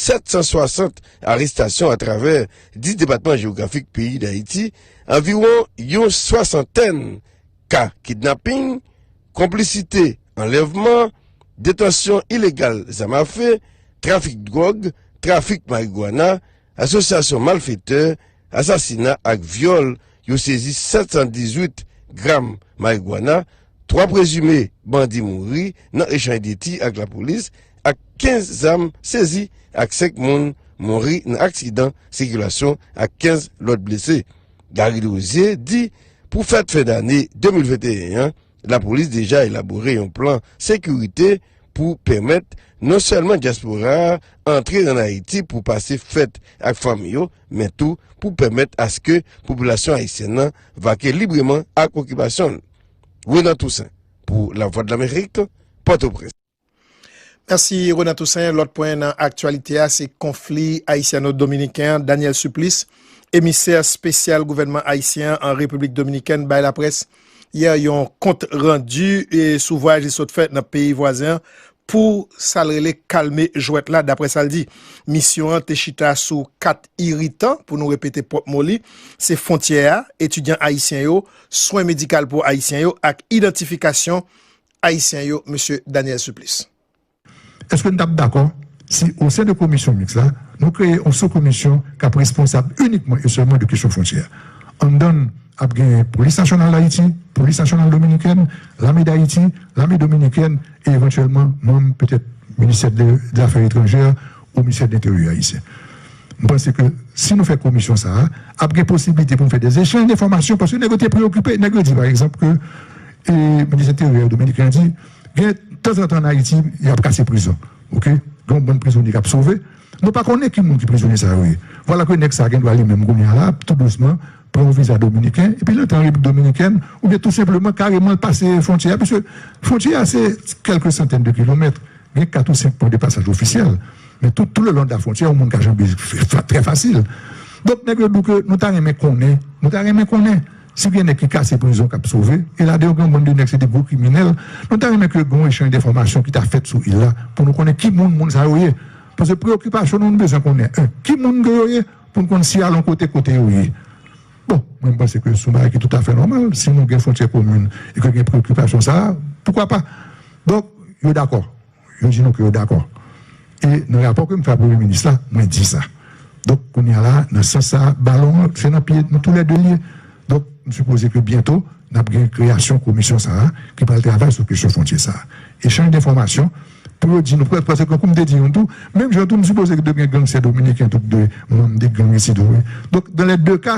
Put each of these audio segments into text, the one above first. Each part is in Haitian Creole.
760 arestasyon atravè 10 depatman jewografik peyi Dayiti, anviwon yon swasantèn ka kidnaping, konplisite, anlèvman, detansyon ilegal zam afe, trafik dwòg, trafik marigwana, asosyasyon malfetè, asasina ak vyòl, yo sezi 718 gram marigwana, 3 prezime bandi mouri nan echanj de ti ak lapolis ak 15 zam sezi ak 5 moun mouri nan aksidan sikilasyon ak 15 lòt blese. Garry Desrosiers di pou fèt fen dane 2021 an, lapolis deja elabore yon plan sekirite pou pèmèt non sèlman dyaspora a antre an Ayiti pou pase fèt ak fanmi yo men tou pou pèmèt aske popilasyon ayisyèn nan vake libreman ak okipasyon l. Renan Toussaint pou Lavwadlamerik, Pòtoprens. Mèsi Renan Toussaint. Lòt pwen nan aktyalite a se konfli ayisyano-dominiken an. Daniel Supplice, emisè spesyal gouvènman ayisyen an an Repiblik Dominikèn bay laprès yè yon kont randi sou vwayaj li sot fè nan peyi vwazen an pou sa l rele kalme jwèt la. Daprè sa l di, misyon an te chita sou 4 iritan, pou nou repete pwòp mo li, se fwontyè a, etidyan ayisyen yo, swen medikal pou Ayisyen yo ak idantifikasyon Ayisyen yo, Mesye Daniel Supplice. Èske n t ap dakò si osen de komisyon miks la, nou kreye yon soukomisyon k ap responsab inikman e sèlman de kesyon fwontyè? Anndan l ap genyen Polis Nasyonal Dayiti, Polis Nasyonal Dominikèn, Lame Dayiti, Lame Dominikèn e evantyèlman manm petèt Ministè dlafè etranjè ou Ministè dlenteryè ayisyen. M panse ke si nou fè komisyon sa a, ap gen posiblite pou nou fè dezechanj denfòmasyon paske nèg yo te preyokipe. Nèg yo di pa egzanp ke minis enteryè dominiken an di gen tanzantan ann Ayiti y ap kase prizon. Oke, gen yon bann prizonye k ap sove. Nou pa konnen ki moun ki prizonye sa yo ye. Vwala ke nèg sa a gen dwa li menm kounye a la ap tou dousman pran yon viza dominiken epi l antre an Repiblik Dominikèn oubyen tou senpleman kareman l pase fwontyè a piske fwontyè a se kèlke santèn de kilomèt, gen kat ou senk pwen de pasaj ofisyèl. Men tout tou le long de la frontyè yon moun ka janbe trè fasil. Donk nèg yo di w ke nou ta renmen konnen, nou ta renmen konnen si gen nèg ki kase prizon k ap sove, e ladan yo gen yon bann de nèg se de gwo kriminèl, nou ta renmen ke gen yon echanj denfòmasyon ki ta fèt sou il la pou nou konnen ki moun moun sa yo ye. Pase preyokipasyon nou nou bezwen konnen 1 ki moun ke yo ye pou n konn si y al yon kote kote yo ye. Bon, mwen m panse ke se yon bagay ki toutafè nòmal si nou gen fwontyè komin e ke gen preyokipasyon sa a, poukwa pa? Donk yo dakò. Yo di nou ke yo dakò. E nan rapò ke m fè a Premye Minis la, mwen di sa. Donk, kounye a la, nan sans sa a, balon an, se nan pye nou tou lè de li ye. Donk, m sipoze ke byento, n ap gen kreyasyon komisyon sa a ki pral travay sou kesyon fwontyè sa a. Echanj denfòmasyon pou yo di nou pwèl, paske tankou m te di youn tou, menm jan tou m sipoze ke dwe gen gangsè dominiken tou ki dwe manm de gang isit tou wi. Donk, dan lè de ka,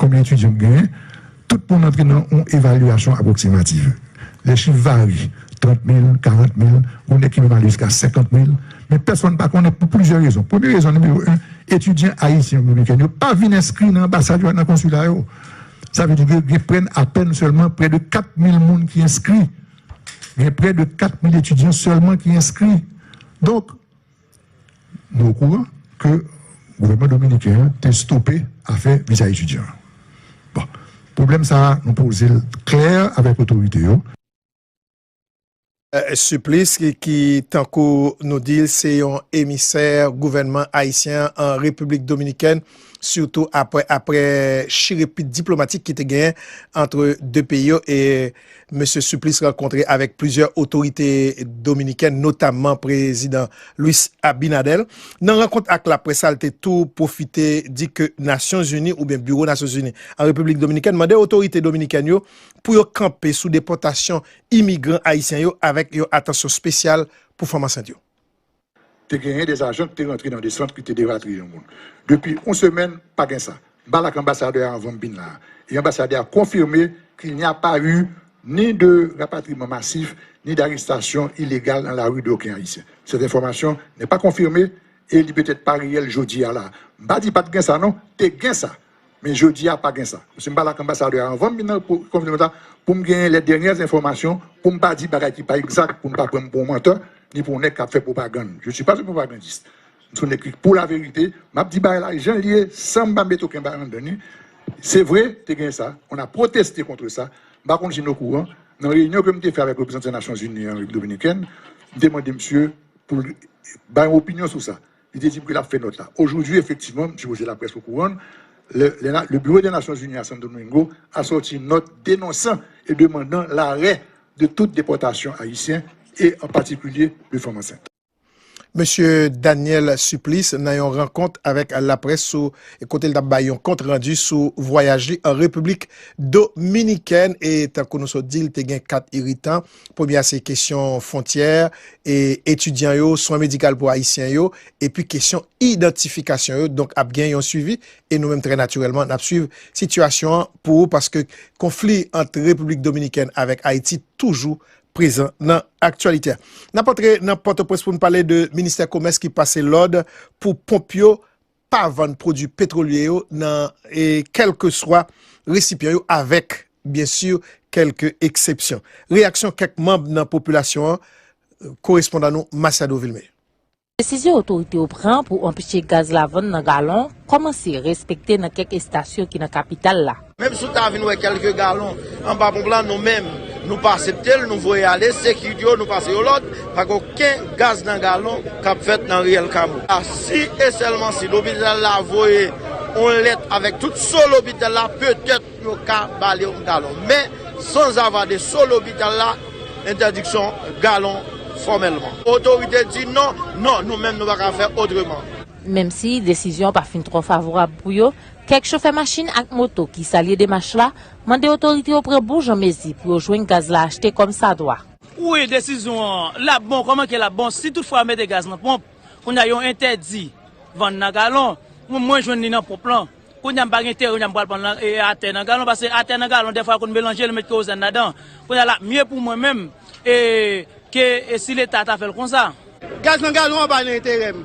Konbyen etidyan m genyen? Tout moun antre nan yon evalyasyon apwoksimativ. Lè chif vare, trant mil, karant mil, gounen ki menm ale jiska senkant mil, men pèsonn pa konnen pou plizyè rezon. Premye rezon, nimewo 1, etidyan ayisyen oubyen dominiken yo pa vin enskri nan anbasad yo ak nan konsila yo. Sa vle di gen pren apèn sèlman prè de kat mil moun ki enskri. Gen prè de kat mil etidyan sèlman ki enskri. Donk. Nou okouran ke gouvènman dominiken an te stope afè viza etidyan an. Bon, pwoblèm sa a nou poze l klè avèk otorite yo. Supplice ki tankou nou di l se yon emisè gouvènman ayisyen an an Repiblik Dominikèn, sitou apre chirepit diplomatik ki te genyen antre 2 peyi yo e Mesye Supplice rankontre avèk plizyè otorite dominikèn notamman prezidan Luis Abinader. Nan rankont ak laprès sa li te tou pwofite di ke Nasyon Zini oubyen biwo Nasyon Zini an Repiblik Dominikèn mande otorite dominikèn yo pou yo kanpe sou depòtasyon imigran ayisyen yo avèk yon atansyon spesyal pou fanm ansent yo. te genyen des ajan ki te rantre nan des sant ki te deratriye yon moun. Depi yon semèn, pa gen sa. M pale ak anbasadè a anvan m vin la a, e anbasadè a konfime k il n'y a pas eu ni de rapatriman masif, ni d'arestasyon ilegal an lari d'oken Ayisyen. Sèt enfòmasyon nè pa konfime e li petèt pa reyèl jodi a la a. M pa di pat gen sa non, te gen sa. Men jodi a pa gen sa. Msi m pale ak anbasadè a anvan m vin nan konfineman sa pou m genyen lè dènyè enfòmasyon pou m pa di bagay ki pa egzak pou n pa pran m pou yon mantè ni pou yon nèg k ap fè pwopagann. Je suis pas un propagandiste. M se yon nèg ki pou laverite. M ap di bagay la jan l ye san m pa mete oken bagay anndan li. Se vre te gen sa. On a proteste contre ça. M pa konn si n okouran. Nan reyinyon ke m te fè avèk reprezantan Nasyonzini an Repiblik Dominikèn, m te mande msye pou l bay yon opinyon sou sa. Li te di m ke l ap fè nòt la ojoudwi. Efektivman, m sipoze laprès okouran l, lè le Biwo dè Nasyonzini a Santo Domingo a sòti nòt denonsan e demandan larè de tout depòtasyon ayisyen e an patikilye de fanm ansent. Mesye Daniel Supplice nan yon rankont avèk laprès sou kote l t ap bay yon kont randi sou vwayaj li an Repiblik Dominikèn e tankou nou sot di l te gen kat iritan Premye a se kesyon fontyè, etidyan yo, swen medikal pou Ayisyen yo, epi kesyon idantifikasyon yo. Donk ap gen yon swivi e nou menm trè natirèlman n ap swiv sitiyasyon an pou ou paske konfli ant Repiblik Dominikèn avèk Ayiti toujou prezan nan aktyalite a. N ap antre nan Pòtoprens pou n pale de Ministè Komès ki pase lòd pou ponp yo pa vann pwodwi petwolye yo nan kèlkeswa resipyan yo avèk, byen si, kèlk eksepsyon. Reyaksyon kèk manb nan popilasyon an, korespondan nou Masiado Vilmé. Desizyon otorite yo pran pou anpeche gaz la vann nan galon kòmanse respekte nan kèk estasyon ki nan kapital la. Menm si w ta vin wè kèlke galon anba ponp la, nou menm nou pa asepte l, nou voye ale, sekirite yo nou pase yo lòd, pa gen oken gaz nan galon k ap fèt nan riyèl Kamo. Si e sèlman si lopital la voye yon lèt avèk tout so lopital la, petèt yo ka ba li yon galon. Men, sanzava de so lopital la, entèdiksyon galon fòmèlman. Otorite di non, non, nou menm nou pa ka fè otreman. Menm si desizyon an pa fin twò favorab pou yo, Kèk chofè machin ak moto ki salye demach la, mande otorite yo pran bon jan mezi pou yo jwenn gaz la achte kòm sa dwa. Wi desizyon an lap bon kòman ke lap bon si tout fwa yo mete gaz nan ponp kounye a yo entèdi vann nan galon mwen mwen jwenn li nan ponp lan kounye a m pa gen teren kounye a m pral prann atè nan galon paske atè nan galon dèfwa yo konn melanje yo met kerozèn ladan kounye a lap mye pou mwen menm e ke si leta ta fèl konsa. Gaz nan galon an pa nan enterè m.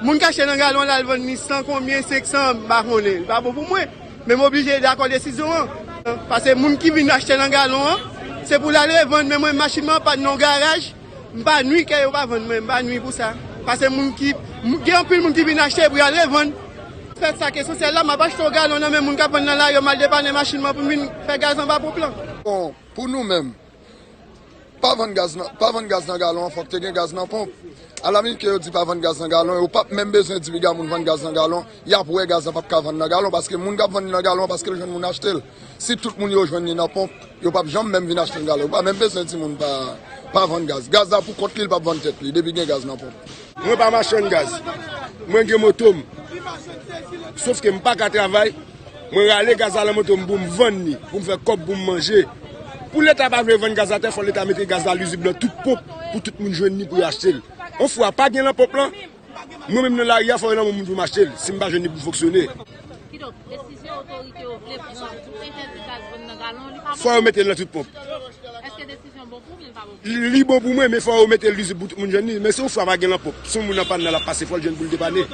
Moun k achte nan galon an l al vann li san konbyen, senksan an, m pa konnen. Li pa bon pou mwen. Men m oblije dakò desizyon an. Pase moun ki vin achte nan galon an, se pou l al revann. Men mwen machin mwen an pann nan yon garaj, m pa nwi ke yo pa vann mwen. M pa nwi pou sa. Pase moun ki, gen anpil moun ki vin achte pou y al revann. Fè sa k esansyèl la. M ap achte yon galon nan men moun k ap vann nan lari an, m al depannen machin mwen pou m vin fè gaz anba ponp lan. Bon, pou nou menm, Pa vann gaz nan, pa vann gaz nan galon an fòk te gen gaz nan ponp. Alamit ke yo di pa vann gaz nan galon, yo pap menm bezwen di piga moun vann gaz nan galon, yap wè gaz la pap ka vann nan galon paske moun kap vann li nan galon an paske l jwenn moun achte l. Si tout moun yo jwenn li nan ponp, yo pap janm menm vin achte nan galon. Yo pa menm bezwen di moun pa vann gaz. Gaz la pou kont li, li pap vann tèt li depi gen gaz nan ponp. Mwen pa machann gaz. Mwen gen moto m. Sof ke m paka travay. Mwen rale gaz la lan moto m pou m vann li, pou m fè kòb pou m manje. Pou leta pa vle vann gaz la tè fò leta mete gaz la lizib lan tout ponp pou tout moun jwenn li pou yo achte l. On fwa pa gen lan ponp lan, mwen menm nan lari a fò yo lan men moun pou m achte l si m pa jwenn li pou l fonksyone. Fò yo mete l lan tout ponp. Li bon pou mwen men fò yo mete l lizib pou tout moun jwenn li. Men si yon fwa pa gen lanpòp, si yon moun anpàn nan l ap pase fò l jwenn pou l depane.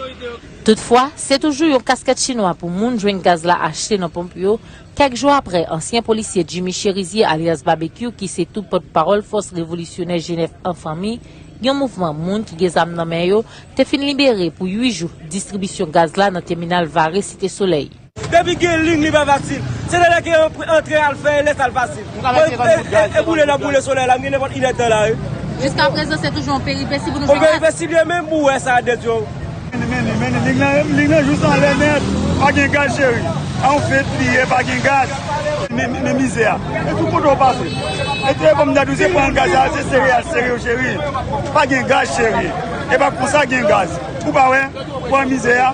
Toutfwa, se toujou yon kaskèt chinwa pou moun jwenn gaz la achte nan ponp yo, kèk jou aprè ansyen polisye Jimmy Cherizier alyas Babekyou ki se tou pòt pawòl fòs revolisyonè Jenèf an Fanmi, yon mouvman moun ki gen zam nan men yo, te fin libere pou 8 jou distribisyon gaz la nan tèminal Vare Site Solèy. Depi gen ling li pa fasil. Se lè lè ke yo antre al fè lè sa l fasil. E boule nap boule solèy la m gen nenpòt inèdtan la wi. Jiska prezan se toujou yon peripesi pou nou jwenn ak. Yon peripesi byen menm pou wè sa nèt yo. Mène mène ling lan ling lan jous anlè nèt. Pa gen gaz cheri. A yon fèt li ye pa gen gaz. Men mizè a. E tout kote w pase. E te banm dat ou se pran gaz a se sere al sere yo cheri. Pa gen gaz cheri. E pa konsa gen gaz. Ou pa wè. Pran mizè a.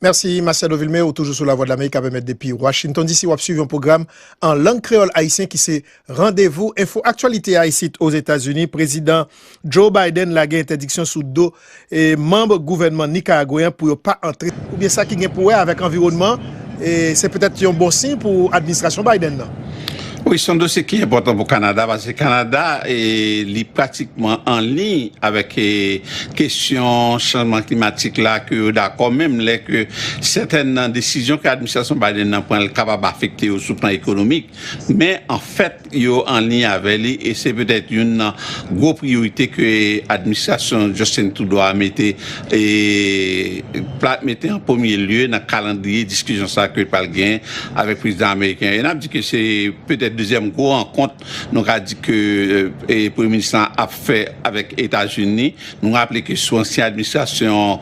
Mèsi Marcelo Vilmé, ou toujou sou La Vwa Dlamerik kap emèt depi Washington DC. Wap swiv yon pwogram an lang kreyòl ayisyen ki se Randevou Enfo Aktyalite a isit Ozetazini. Prezidan Joe Biden lage entèdiksyon sou do manb gouvènman nikaragweyen pou yo pa antre. Oubyen sa ki gen pou wè avèk anviwònman. E se petèt yon bon siy pou administrasyon Biden nan. Wi, se yon dosye ki enpòtan pou Kanada paske Kanada li pratikman an liy avèk kesyon chanjman klimatik la ke yo dakò menm lè ke sètèn nan desizyon ke administrasyon Biden nan pran kapab afekte yo sou plan ekonomik men anfèt yo an liy avè li e se petèt youn nan gwo priyorite ke administrasyon Justin Trudeau a mete mete an premye lye nan kalandriye diskisyon sa ke li pral genyen avèk prezidan ameriken an e nap di ke se petèt dezyèm gwo rankont nou ka di ke premye minis lan ap fè avèk Etazini. Nou raple ke sou ansyen administrasyon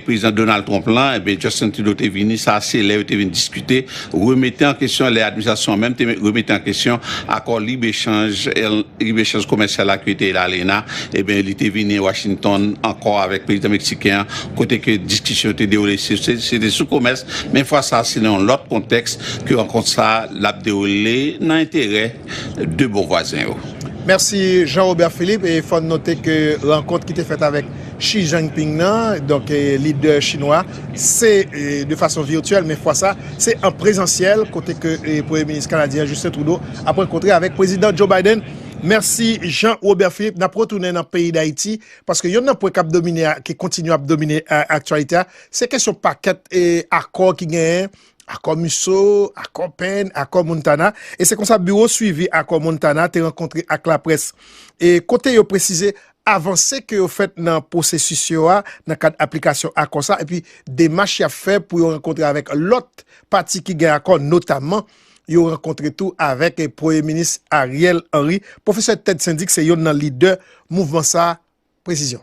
Prezidan Donald Trump la, Justin Trudeau te vini, sa a se lè yo te vin diskite, remete an kesyon, lè administrasyon an menm te remete an kesyon akò lib echanj komèsyal la ki yo te rele ALENA, enben li te vini Washington ankò avèk Prezidan Meksiken an, kote ke diskisyon yo te dewoule, se te sou komès, men fwa sa a se nan yon lòt kontèks ke rankont sa a l ap dewoule nan enterè. 2 bon vwazen yo. Mèsi Jean Robert Philippe e fòn note ke rankont ki te fèt avèk Xi Jinping nan, donk lidè chinwa, se de fason virtyèl men fwa sa se an prezansyèl kote ke premye minis kanadyen an Justin Trudeau ap rankontre avèk prezidan Joe Biden. Mèsi Jean Robert Philippe, nap retounen nan peyi Dayiti paske yonn nan pwen kap domine a ki kontinye ap domine aktyalite a se kesyon pakèt akò ki genyen Akò Musso, Akò Penn, Akò Montana, e se konsa Biwo Swivi Akò Montana te rankontre ak laprès e kote yo presize avanse ke yo fèt nan pwosesis yo a nan kad aplikasyon akò sa epi demach y ap fè pou yo rankontre avèk lòt pati ki gen akò notamman yo rankontre tou avèk Premye Minis Ariel Henry. Pwofesè Ted Syndic se yonn nan lidè mouvman sa, prezizyon.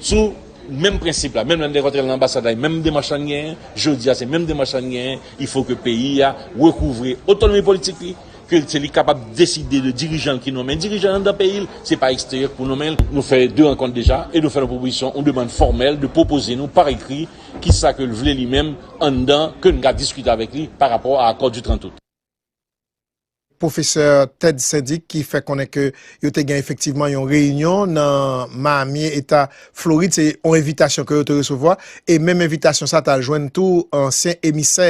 Sou menm prensip la, menm lè n te rantre nan anbasad la e menm demach la n genyen jodi a se menm demach la n genyen, ifo ke peyi a rekouvre otonomi politik li, ke se li kapab deside de dirijan l ki nonmen dirijan l anndan peyi l, se pa eksteryè k pou nonmen l. Nou fè 2 rankont deja e nou fè yon pwopozisyon, yon demann fòmèl de pwopoze nou pa ekri ki sa ke l vle li menm anndan ke n ka diskite avèk li pa rapò a akò di 30 out. Pwofesè Ted Sendzik ki fè konnen ke yo te gen efektivman yon reyinyon nan Miami, Eta Florid, se yon envitasyon ke yo te resevwa, e menm envitasyon sa a te al jwenn tou ansyen emisè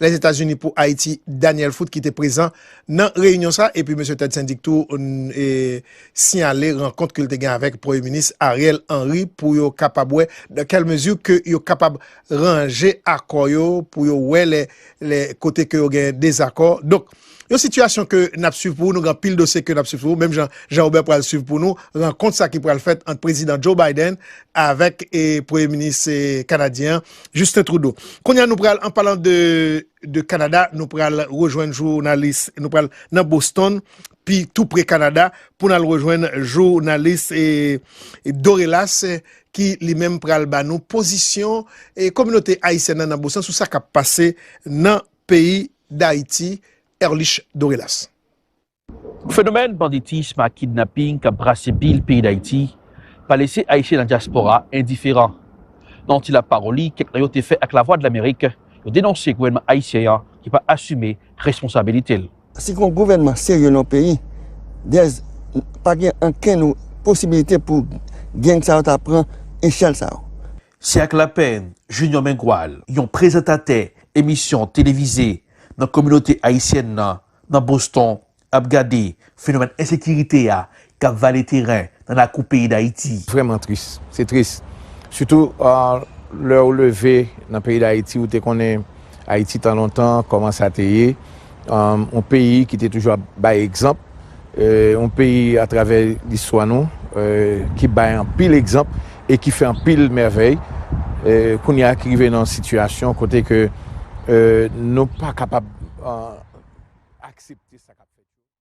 Lèzetazini pou Ayiti, Daniel Foot ki te prezan nan reyinyon sa a, epi Mesye Ted Sendzik tou siyale rankont ke li te gen avèk Premye Minis Ariel Henry pou yo kapab wè dans quelle mesure ke yo kapab ranje akò yo pou yo wè lè lè kote ke yo gen dezakò. Donk, yon sitiyasyon ke n ap swiv pou ou, nou gen anpil dosye ke n ap swiv pou ou, menm jan Jean Robert pral swiv pou nou rankont sa ki pral fèt ant Prezidan Joe Biden avèk Premye Minis Kanadyen an, Justin Trudeau. Kounye a nou pral, an palan de Kanada, nou pral rejwenn jounalis, nou pral nan Boston pi tou pre Kanada pou n al rejwenn jounalis Dorellas ki li menm pral ba nou pozisyon kominote ayisyèn nan nan Bosan sou sa k ap pase nan peyi Dayiti. Erlich Dorellas. Fenomèn banditism ak kidnaping k ap brase bil peyi Dayiti pa lese ayisyen nan dyaspora endiferan. Nan yon ti lapawoli kèk nan yo te fè ak Lavwadlamerik, yo denonse gouvènman ayisyen an ki pa asime responsabilite l. Si gon gouvènman serye nan yon peyi, dèz pa gen ankenn posibilite pou gang sa yo ta pran echèl sa yo. Siècle Lapin, Junior Mengual, yon prezantatè emisyon televize nan kominote ayisyèn nan nan Boston, ap gade fenomèn ensekirite a k ap vale teren nan lakou peyi Dayiti. Vrèman tris. Se tris. Sitou lè ou leve nan peyi Dayiti, ou te konnen Ayiti tan lontan, kòman sa te ye. Yon peyi ki te toujou ap bay egzanp. Yon peyi atravè listwa nou ki bay anpil egzanp e ki fè anpil mèvèy. Kounye a ki rive nan yon sitiyasyon kote ke nou pa kapab aksepte sa k ap fèt.